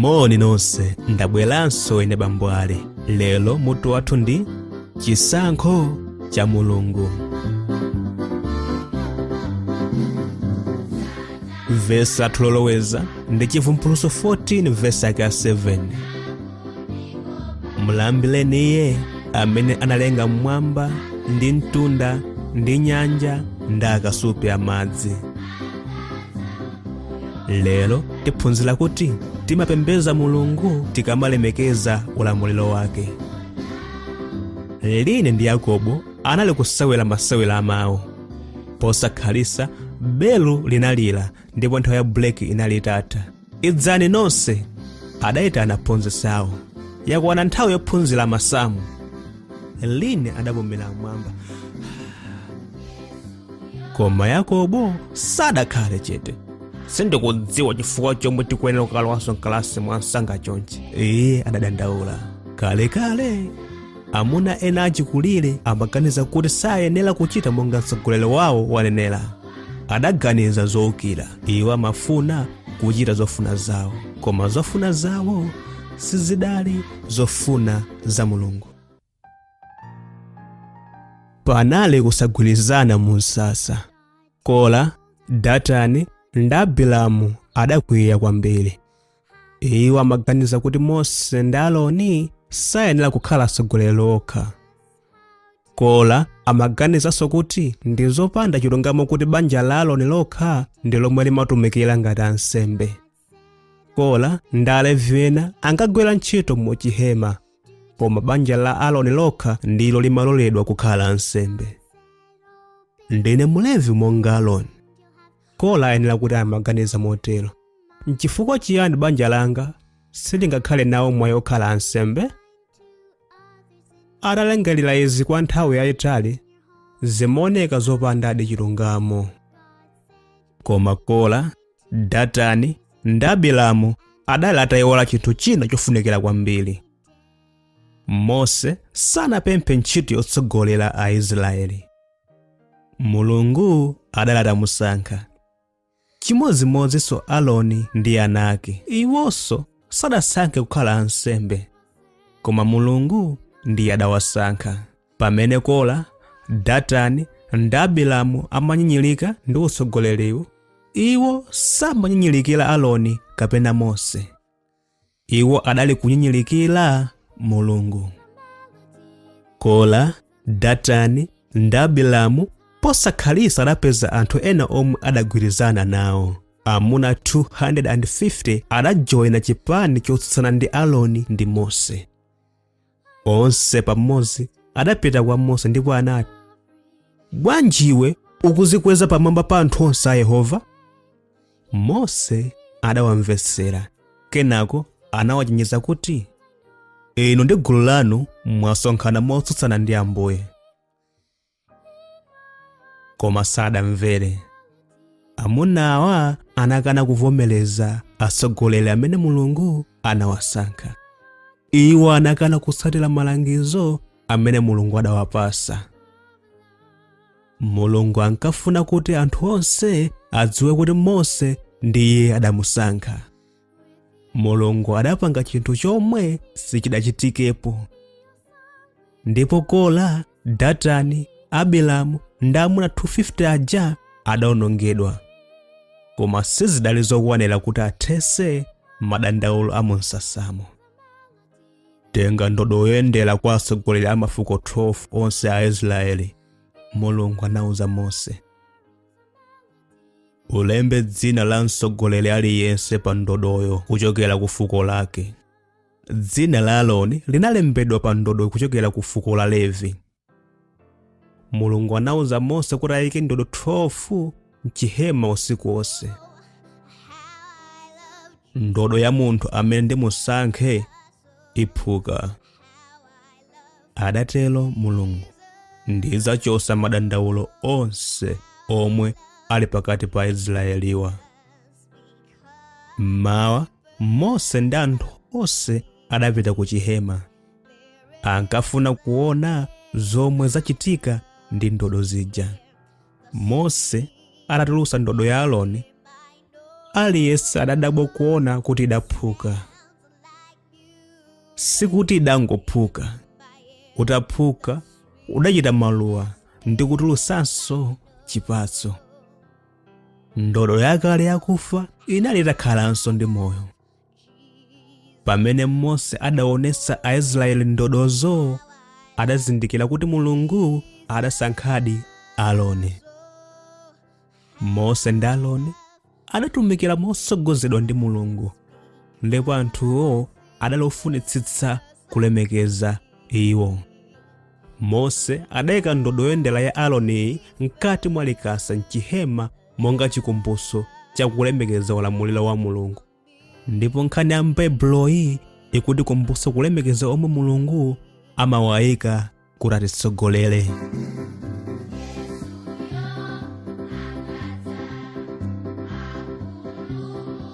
moni nonse ndabweranso ine bambo ali lero mutu wathu ndi chisankho cha mulungu vesi lathu loloweza ndi chivumbulutso 14 vesi yake ya 7 mulambireni iye amene analenga mmwamba ndi mtunda ndi nyanja ndi akasupe amadzi lero tiphunzira kuti timapembeza mulungu tikamalemekeza ulamuliro wake line ndi yakobo anali kusewera masewero a mawu posakhalisa belu linalira ndipo nthawi ya buleki inali itatha idzani nonse adayitana aphunzitsi awo yakwana nthawi yophunzira masamu line adapumira mmwamba koma yakobo sadakhale chete sindikudziwa chifukwa chomwe tikuyenera kukalowanso mkalasi mwa msanga chonchi iye adadandaula kalekale amuna ena achikulire amaganiza kuti sayenera kuchita monga mtsogoleri wawo wanenera adaganiza zoukira iwo amafuna kuchita zofuna zawo koma zofuna zawo sizidali zofuna za mulungu panali kusagwirizana mu msasa kora datani ndi abiramu adakwiya kwambiri iwo amaganiza kuti mose ndi aroni sayenera kukhala atsogoleri okha kola amaganizanso kuti ndi zopanda chilungamo kuti banja la aroni lokha ndi lomwe limatumikira ngati ansembe kola ndi alevi ena ankagwira ntchito mu chihema koma banja la aroni lokha ndilo limaloledwa kukhala ansembe ndine mulevi monga aroni kola ayenera kuti amaganiza motero nchifukwa chiyani banja langa silingakhale nawo mwayi okhala ansembe atalingalira izi kwa nthawi yayitali zimaoneka zopandadi chilungamo koma kora datani ndi abiramu adali atayiwala chinthu china chofunikira kwambiri mose sanapemphe ntchito yotsogolera aisraeli mulungu adali atamusankha Chimodzimodzinso Aroni ndi ana ake. Iwonso sadasankhe kukhala ansembe, koma Mulungu ndiye adawasankha. Pamene Kora, Datani ndi Abiramu amanyinyirika ndi utsogoleriwu, iwo samanyinyirikira Aroni kapena Mose. iwo adali kunyinyirikira mulungu kora datani ndi abilamu posakhalisa adapeza anthu ena omwe adagwirizana nawo amuna 250 adajoyina chipani chotsutsana ndi aroni ndi mose onse pamodzi adapita kwa mose ndipo anati bwanji iwe ukuzikweza pamwamba pa anthu onse a yehova mose adawamvetsera kenako anawachenjeza kuti inu ndi gulu lanu mwasonkhana motsutsana ndi ambuye koma sadamvere amunawa anakana kuvomereza atsogoleri amene mulungu anawasankha iwo anakana kutsatira malangizo amene mulungu adawapasa mulungu ankafuna kuti anthu onse adziwe kuti mose ndiye adamusankha mulungu adapanga chinthu chomwe sichidachitikepo ndipo kora datani abiramu ndi amuna 250 aja adaonongedwa koma sizidali zokwanira kuti athese madandaulo a mumsasamo tenga ndodo yoyendera kwa atsogoleri a mafuko 12 onse a israeli mulungu anauza mose ulembe dzina la mtsogoleri aliyense pa ndodoyo kuchokera ku fuko lake Dzina la Aroni linalembedwa pa ndodo kuchokera ku fuko la Levi. Mulungu anauza Mose kuti ayike ndodo 12 m'chihema usiku wonse. Ndodo ya munthu amene ndimusankhe iphuka. Adatero Mulungu, ndidzachotsa madandaulo onse omwe ali pakati pa Aisraeliwa. mmawa mose ndi anthu onse adapita ku chihema ankafuna kuona zomwe zachitika ndi ndodo zija mose atatulusa ndodo ya aroni aliyense adadabwa kuona kuti idaphuka sikuti idangophuka utaphuka udachita maluwa ndi kutulusanso chipatso ndodo yakale yakufa inali itakhalanso ndi moyo pamene mose adaonetsa aisraeli ndodozo adazindikira kuti mulungu adasankhadi aroni mose ndi aroni adatumikira motsogozedwa ndi mulungu ndipo anthuwo adali ofunitsitsa kulemekeza iwo Mose adaika ndodo yoyendera ya Aroniyi mkati mwa likasa m'chihema monga chikumbutso cha kulemekeza ulamuliro wa Mulungu. Ndipo nkhani ya m'Baibuloyi ikutikumbutsa kulemekeza omwe Mulungu amawaika kuti atitsogolere.